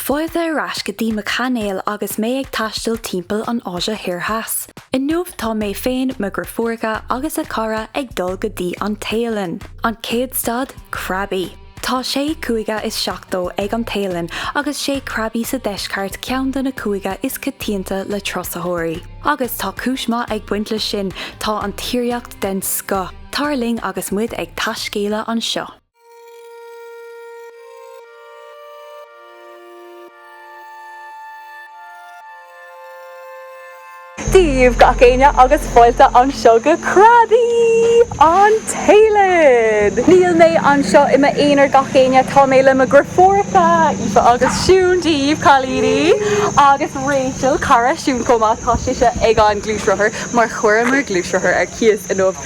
Fáilte ar ais go dtí mo cainéal agus mé ag taisteal timpeall an Áise Thoir Theas. Inniu tá mé féin, mo dheirfiúracha agus a cara ag dul go dtí an Téalainn. An chéad stad, Krabi. Tá sé cúige is seachtó ag an Téalainn agus sé Krabi sa deisceart ceann de na cúige is coitianta le turasóirí. Agus tá cúis maith ag baint le sin, tá an tírdhreach den scoth! Tar linn agus muid ag taiscéaladh anseo. Dia dhaoibh gach éinne agus fáilte anseo go Krabi, an Téalainn! Níl mé anseo i m'aonar gach éinne, tá mé le mo dheirfiúracha, Aoife agus Siún, Dia dhaoibh cailíní, agus Rachel, cara Siún chomh maith, tá sise ag an gluaisrothar mar chuireamar gluaisrothar ar cíos inniu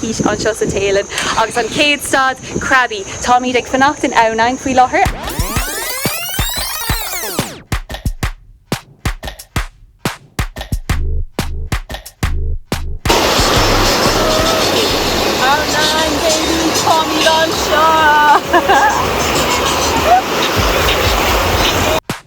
thíos anseo sa Téalainn. Agus an chéad stad, Krabi. Táimid ag fanacht in Ao Nang faoi láthair.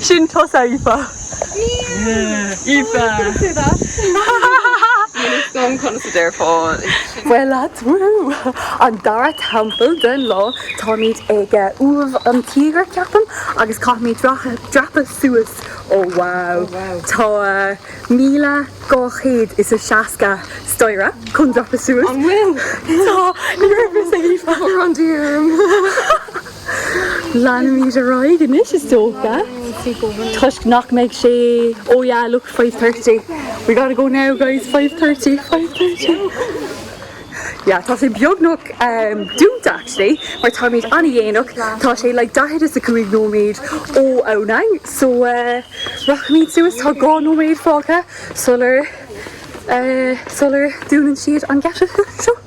Sin tusa, Aoife. Aoife! Níl a fhios agam conas a déarfá. Bhuel lads woohoo! An dara teampall den lá, táimid ag Uaimh an Tíogair, ceapaim, agus caithfimid dreapadh suas ó wow! Tá 1,260 staighre chun dreapadh suas. An bhfuil? Tá! Ní raibh a fhios ag Aoife. Tá run díom. Leanfaimid ar aghaidh anois, is dócha, toisc nach mbeidh sé, oh yeah, look, five thirty, we gotta go now, guys, five thirty, five thirty. Yeah, tá sé beagnach dúnta, actually, mar táimid an-dhéanach, tá sé like daichead is a cúig nóiméad ó Ao Nang, so rachaimid suas, tá dhá nóiméad fágtha sular, sular dúnann siad an geata seo.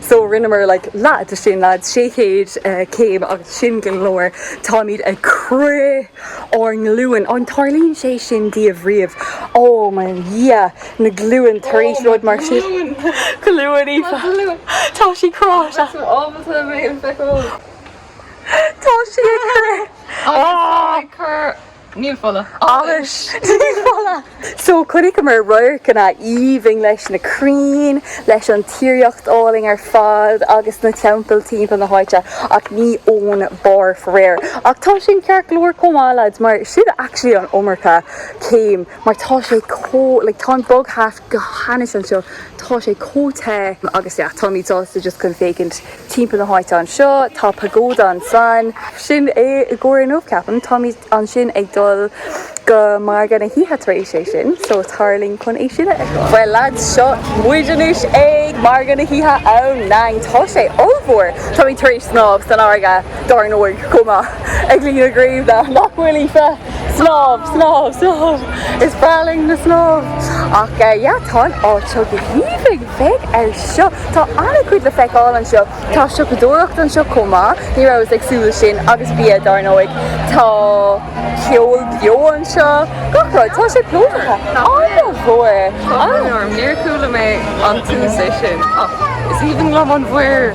So rinneamar like leath de sin lads, 600 uh, céim agus sin go leor táimid ag crith ár nglúin an tarlíonn sé sin daoibh riamh ó mo Dhia na glúin tar éis rud mar sin. Glúin Aoife. My glúin. tá sí crá That's what all the time I am like, oh. tá sí ag crith. Oh, Ah! I cur. Níl folach áthais. Níl folach. So chonaiceamar radharcanna aoibhinn leis na crainn, leis an tírdhreach álainn ar fad agus na teampaill timpeall na háite ach ní ón barr faraor. Ach tá sin ceart go leor chomh maith lads mar sin actually an iomarca céim mar tá sé chomh like tá an bogtha go hainnis anseo, tá sé chomh te agus yeah táimid sásta just chun féachaint timpeall na háite anseo, tá pagoda ansan, sin é i gcomhair inniu ceapaim, táimid ansin ag dul go margadh na hoíche tar éis é sin so tar linn chun é sin a fheiceáil. Bhuel lads, seo muid anois ag margadh na hoíche Ao Nang, tá sé ollmhór, táimid tar éis snámh san fharraige dár ndóigh chomh maith ag luí na gréine, nach bhfuil Aoife? Snámh! Snámh! Snámh! Is breá linn na snámh! Ach yeah tá an áit seo go haoibhinn! Féach ar seo! Tá an-chuid le feiceáil anseo. Tá siopadóireacht anseo chomh maith, ní rabhas ag súil leis sin, agus bia, dár ndóigh. Tá ceol beo anseo, gach rud, tá sé plódaithe! An-mhór! Níor chuala mé an tune sin ach is aoibhinn liom an mhuir!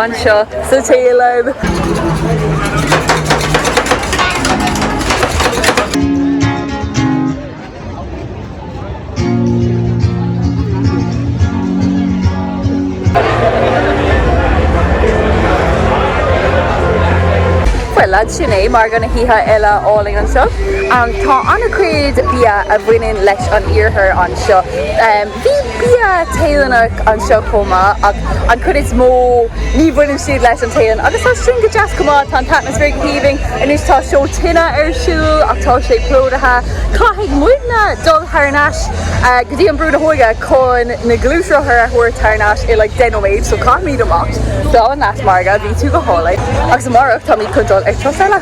anseo sa Téalainn. Bhuel, lads, sin é, margadh na hoíche eile álainn anseo, tá an-chuid bia a bhaineann leis an iarthar anseo. Bhí bia Téalannach anseo chomh maith ach an chuid is mó ní bhaineann siad leis an Téalainn agus tá sin go deas chomh maith. Tá an t-atmaisféar go haoibhinn. Anois tá seó tine ar siúl ach tá sé plódaithe. Caithfidh muidne dul thar n-ais go dtí an Brú na hÓige chun na gluaisrothair a thabhairt thar n-ais i like deich nóiméad so caithfimid imeacht. Slán leat margadh. Bhí tú go hálainn agus amárach táimid chun dul ar turas eile.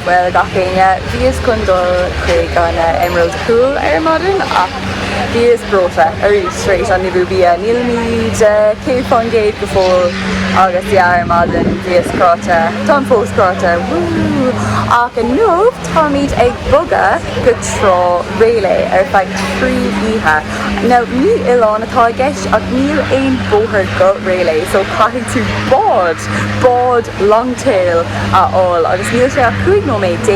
Bhuel, a gach éinne, bhíos chun dul chuig an Emerald Pool ar maidin ach bhíos breoite arís tar éis an nimhiú bia. Nílimid céad fán gcéad go fóill agus yeah, ar maidin bhíos cráite, táim fós cráite, wúhúúú! Ach inniu táimid ag bogadh go trá Railay ar feadh trí oíche. Now, ní hoileán atá i gceist ach níl aon bóthar go Railay so caithfidh tú bád, bád! long tail, a fháil agus níl sé ach 15 nóiméad.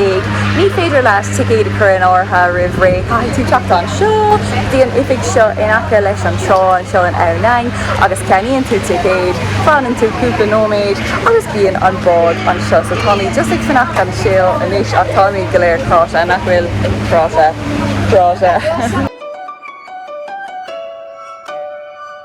Ní féidir leat ticéad a chur in áirithe roimh ré. Caithfidh tú teacht anseo, bíonn oifig seo in aice leis an trá anseo in Ao Nang, agus ceannaíonn tú ticéad, fanann tú cúpla nóiméad agus bíonn an bád anseo. So táimid just ag fanacht anseo anois ach táimid go léir cráite, nach bhfuil? Cráite. Cráite.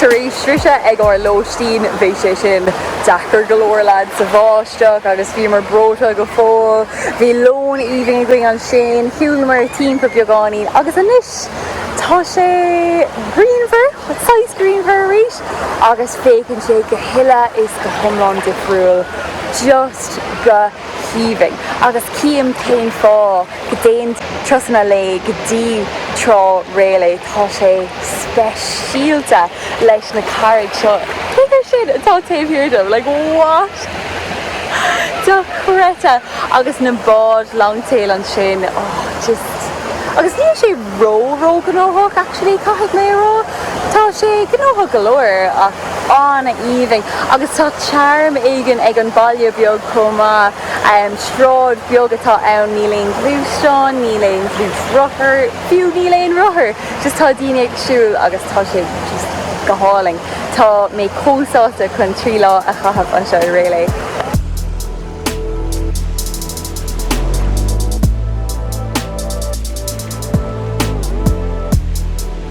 Tar éis sroichint ag ár lóistín, bhí sé sin deacair go leor, lads, sa bháisteach agus bhíomar breoite go fóill. Bhí lón aoibhinn againn ansin, shiúlamar timpeall beagáinín agus anois tá sé grianmhar, saghas grianmhar arís agus féachann sé go huile is go hiomlán difriúil, just go. hAoibhinn, agus chím cén fáth go dtéann trasna go dtí Trá Railay. Tá sé speisialta leis na carraigeacha seo. Cad é sin atá taobh thiar dom? Like what? Dochreidte! Agus na báid longtail ansin, oh, just. Agus níl sé ró-róghnóthach, actually, caithfidh mé a rá. Tá sé gnóthach go leor ach an-aoibhinn agus tá charm éigin ag an baile beag chomh maith. Sráid bheag atá ann, níl aon gluaisteán, níl aon gluaisrothar, fiú níl aon rothar, just tá daoine ag siúl agus tá sé just go hálainn. Tá mé chomh sásta chun trí lá a chaitheamh anseo i Railay.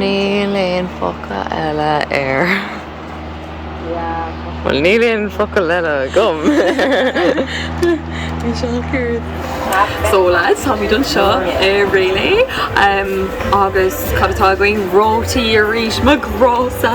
Níl aon focal eile air. Bhuel, níl aon focal eile agam ar. So lads, táimid anseo i Railay agus cad atá againn? Rótaí arís, mo ghrá-sa!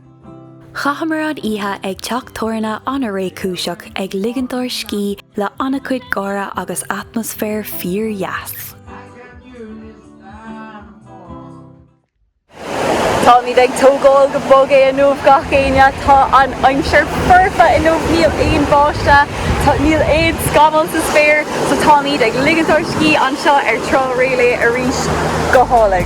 Chaitheamar an oíche ag teach tábhairne an-réchúiseach ag ligint ár scíth le an-chuid gáire agus atmaisféar fíordheas. Táimid ag tógaint go bog é inniu gach éinne. Tá an aimsir foirfe inniu, níl aon bháisteadh, tá, níl aon scamall sa spéir so táimid ag ligint ár scíth anseo ar trá Railay arís. Go hálainn.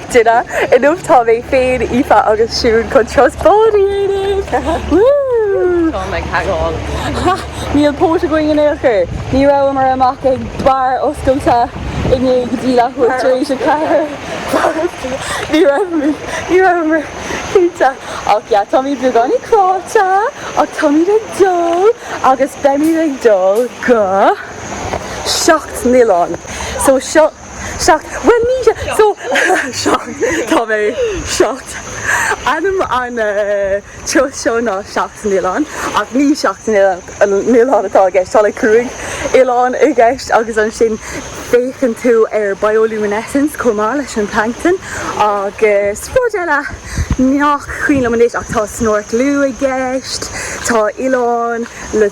Duine inniu tá mé féin, Aoife agus Siún chun turas báid a dhéanamh! Woo! Táim ag theagmháil. Ha! Níl póit againn in aon chor. Ní rabhamar amach ag beár oscailte inné go dtí leathuair tar éis a ceathair. Beár oscailte? Ní rabhamar, ní rabhamar, cinnte. Ach yeah, táimid beagáinín cráite ach táimid ag dul agus beimid ag dul go seacht n-oileán. So seo. 7, bhuel ní, so, 7, tá mé, 7, ainm an turas seo ná Seacht nOileán ach ní seacht n-oileán atá i gceist, tá like cúig oileán i gceist agus ansin féachann tú ar bioluminescence chomh maith leis an plankton agus rud eile nach cuimhin liom anois ach tá snorclú i gceist, tá oileán le.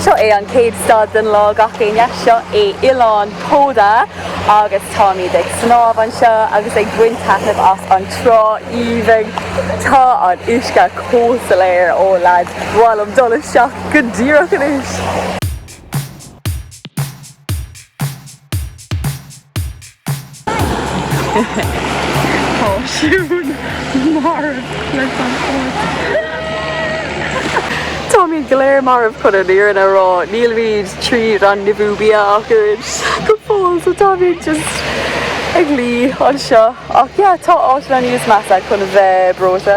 Seo é an chéad stad den lá gach éinne. Seo é Oileán Poda agus táimid ag snámh anseo agus ag baint taitneamh as an trá aoibhinn. Tá an uisce chomh soiléir, ó lads, ba mhaith liom dul isteach go díreach anois! Táimid go léir marbh chun an fhírinn a rá, nílimid tríd an nimhiú bia ach oiread go fóill so táimid just ag luí anseo ach yeah tá áiteanna níos measa chun a bheith breoite.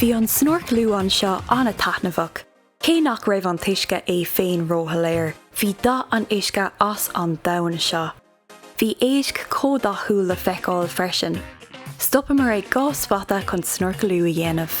Bhí an snorclú anseo an-taitneamhach, cé nach raibh an t-uisce é féin róshoiléir, bhí dath an uisce as an domhan seo. Bhí éisc chomh dathúil le feiceáil freisin. Stopamar ag dhá spota chun snorclú a dhéanamh.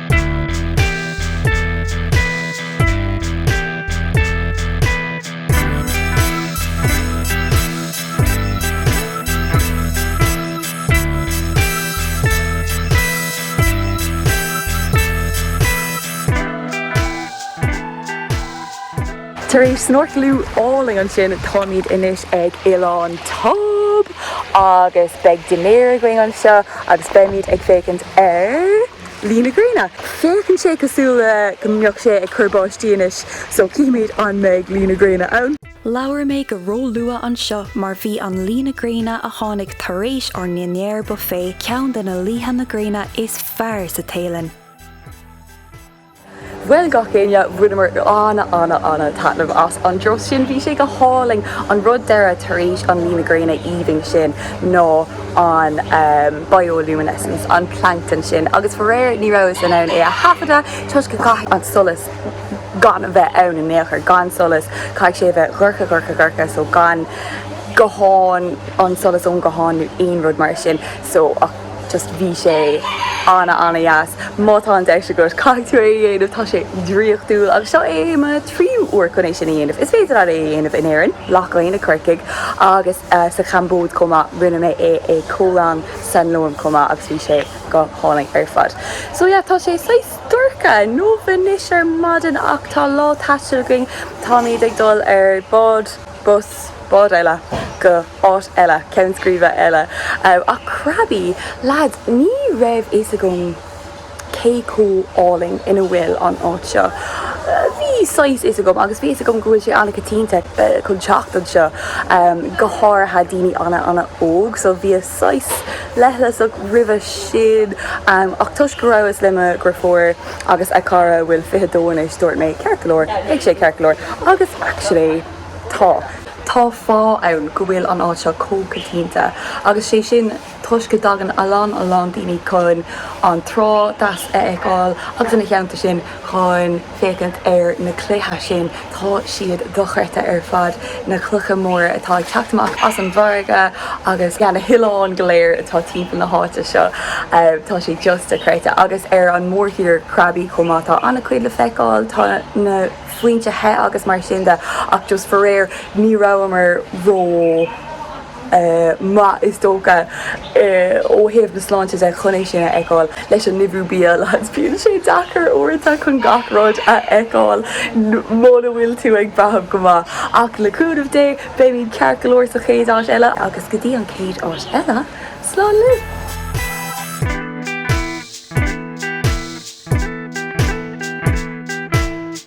Tar éis snorclú álainn ansin táimid anois ag Oileán Tub agus beidh dinnéar againn anseo agus beimid ag féachaint ar. Luí na gréine. Féachann sé cosúil le go mbeadh sé ag cur báistí anois so cífimid an mbeidh luí na gréine ann. Labhair mé go ró-luath anseo mar bhí an luí na gréine a tháinig tar éis ár ndinnéar buffet ceann de na luíthe na gréine is fearr sa Téalainn. Bhuel gach éinne, bhaineamar ana ana ana taitneamh as an dturas sin, bhí sé go hálainn! An rud deireadh tar éis an luí na gréine aoibhinn sin ná an bioluminescence, an planctan sin, agus faraor ní rabhas in ann é a thaifeadadh toisc go gcaithfidh an solas gan a bheith ann in aon chor, gan solas caithfidh sé a bheith dhorcha dhorcha dhorcha, so gan guthán, an solas ón ghuthán nó aon rud mar sin, so. just bhí sé ana ana dheas. Má tá an deis agat, caithfidh tú é a dhéanamh, tá sé draíochtúil agus seo é mo tríú uair chun é sin a dhéanamh. Is féidir leat é a dhéanamh in Éirinn, Lough Hyne i gCorcaigh agus sa Chambóid chomh maith, rinne mé é i Koh Rong Sanloem chomh maith agus bhí sé go hálainn ar fad. So yeah, tá sé saghas dorcha, naofa anois ar maidin ach tá lá taistil againn, táimid ag dul ar bád, bus, bád eile, go, áit eile, ceann scríbe eile, ach Krabi, lads, ní raibh fhios agam cé chomh álainn ina bhfuil an áit seo. Bhí saghas fhios agam agus bhí fhios agam go bhfuil sé an-choitianta chun teacht anseo, go háirithe daoine an-an-óg, so bhíos. saghas leithleasach roimhe sin ach toisc go rabhas le mo dhriofúr agus a cara atá 22 anois dúirt mé ceart go leor, beidh sé ceart go leor agus actually tá. Tá fáth ann go bhfuil an áit seo chomh coitianta agus sé sin toisc go dtagann a lán a lán daoine chun an trá deas a fheiceáil agus ina theannta sin chun. féachaint ar na clocha sin, tá siad dochreidte ar fad, na clocha móra atá ag teacht amach as an bhfarraige agus na hoileáin go léir atá timpeall na háite seo, tá sé just dochreidte. Agus ar an mórthír Krabi chomh maith, tá an-chuid le feiceáil, tá na foinsí te agus mar sin de ach just faraor ní rabhamar ró, maith, is dócha, ó thaobh na sláinte de chun é sin a fheiceáil. Leis an nimhiú bia, leis, bíonn sé deacair uaireanta chun gach rud a fheiceáil muna bhfuil tú ag brath go maith. Ach le cúnamh Dé, beimid ceart go leor sa chéad áit eile. Agus go dtí an chéad áit eile, slán libh!